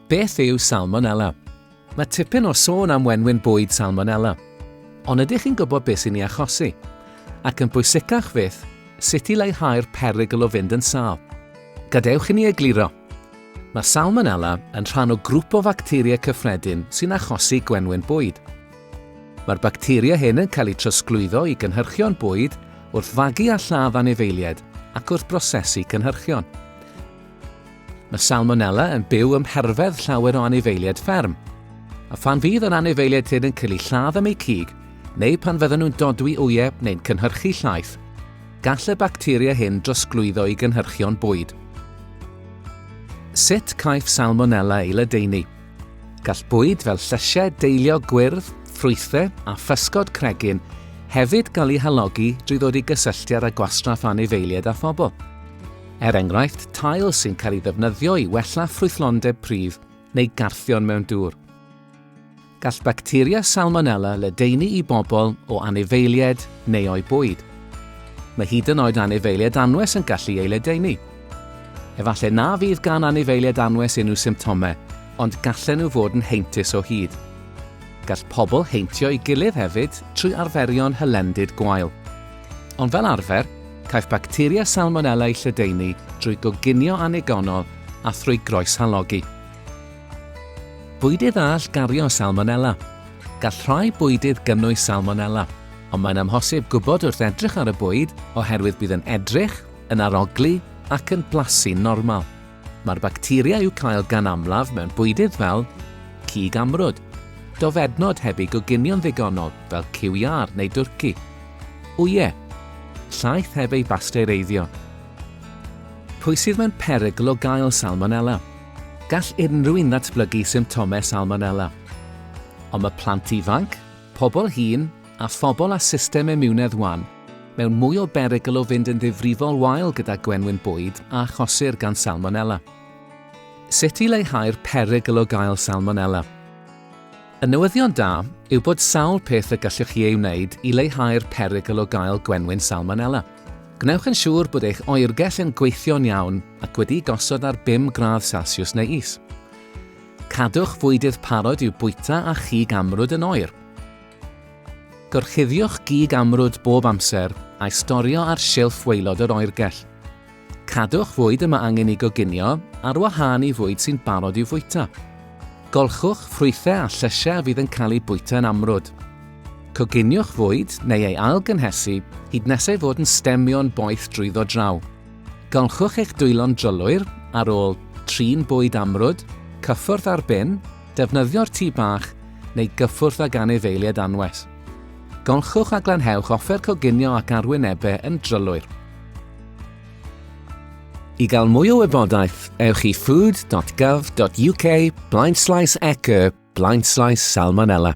Beth yw salmonella? Mae tipyn o sôn am wenwyn bwyd salmonella. Ond ydych chi'n gwybod beth sy'n ei achosi? Ac yn bwysicach fyth, sut i leihau'r perygl o fynd yn sal? Gadewch i ni egluro. Mae salmonella yn rhan o grŵp o facteria cyffredin sy'n achosi gwenwyn bwyd. Mae'r bacteria hyn yn cael eu trosglwyddo i gynhyrchion bwyd wrth fagu a lladd anifeiliaid ac wrth brosesu cynhyrchion. Mae salmonella yn byw ym mherfedd llawer o anifeiliaid fferm, a phan fydd yr anifeiliaid hyn yn cael eu lladd am eu cig, neu pan fydden nhw'n dodwy wyau neu'n cynhyrchu llaeth, gall y bacteria hyn drosglwyddo i gynhyrchion bwyd. Sut caiff salmonella ei ledaenu? Gall bwyd fel llysiau deiliog gwyrdd, ffrwythau a physgod cregyn hefyd gael eu halogi drwy ddod i gysylltiad â gwastraff anifeiliaid a phobl. Er enghraifft, tail sy'n cael ei ddefnyddio i wella ffrwythlondeb pridd neu garthion mewn dŵr. Gall bacteria salmonella ledaenu i bobl o anifeiliaid neu o'u bwyd. Mae hyd yn oed anifeiliaid anwes yn gallu ei ledaenu. Efallai na fydd gan anifeiliaid anwes unrhyw symptomau, ond gallen nhw fod yn heintus o hyd. Gall pobl heintio'i gilydd hefyd trwy arferion hylendid gwael. Ond fel arfer, caiff bacteria Salmonella eu lledaenu drwy goginio annigonol a thrwy groeshalogi. Bwydydd all gario Salmonella. Gall rhai bwydydd gynnwys Salmonella, ond mae'n amhosib gwybod wrth edrych ar y bwyd oherwydd bydd yn edrych, yn arogli ac yn blasu'n normal. Mae'r bacteria i'w cael gan amlaf mewn bwydydd fel cig amrwd, dofednod heb eu goginio'n ddigonol fel ciwiâr neu dwrci, wyau, llaeth heb ei basteureiddio. Pwy sydd mewn perygl o gael salmonella? Gall unrhyw un ddatblygu symptomau salmonella. Ond mae plant ifanc, pobl hŷn a phobl â system imiwnedd wan Mewn mwy o berygl o fynd yn ddifrifol wael gyda gwenwyn bwyd a achosir gan salmonella. Sut i leihau'r perygl o gael salmonella? Y newyddion da yw bod sawl peth y gallwch chi ei wneud i leihau'r perygl o gael gwenwyn salmonella. Gwnewch yn siŵr bod eich oergell yn gweithio'n iawn ac wedi gosod ar 5 gradd Celsius neu is. Cadwch fwydydd parod i'w bwyta a chig amrwd yn oer. Gorchuddiwch gig amrwd bob amser a'i storio ar silff waelod yr oergell. Cadwch fwyd y mae angen ei goginio ar wahân i fwyd sy'n barod i'w fwyta. Golchwch ffrwythau a llysiau a fydd yn cael eu bwyta yn amrwd. Coginiwch fwyd neu ei ail-gynhesu hyd nes ei fod yn stemio'n boeth drwyddo draw. Golchwch eich dwylo'n drylwyr ar ôl trin bwyd amrwd, cyffwrdd ar bin, Defnyddio'r tŷ bach neu gyffwrdd ag anifeiliaid anwes. Golchwch a glanhewch offer coginio ac arwynebau yn drylwyr. I gael mwy o wybodaeth, ewch i food.gov.uk blaenslaes eco blaenslaes salmonella.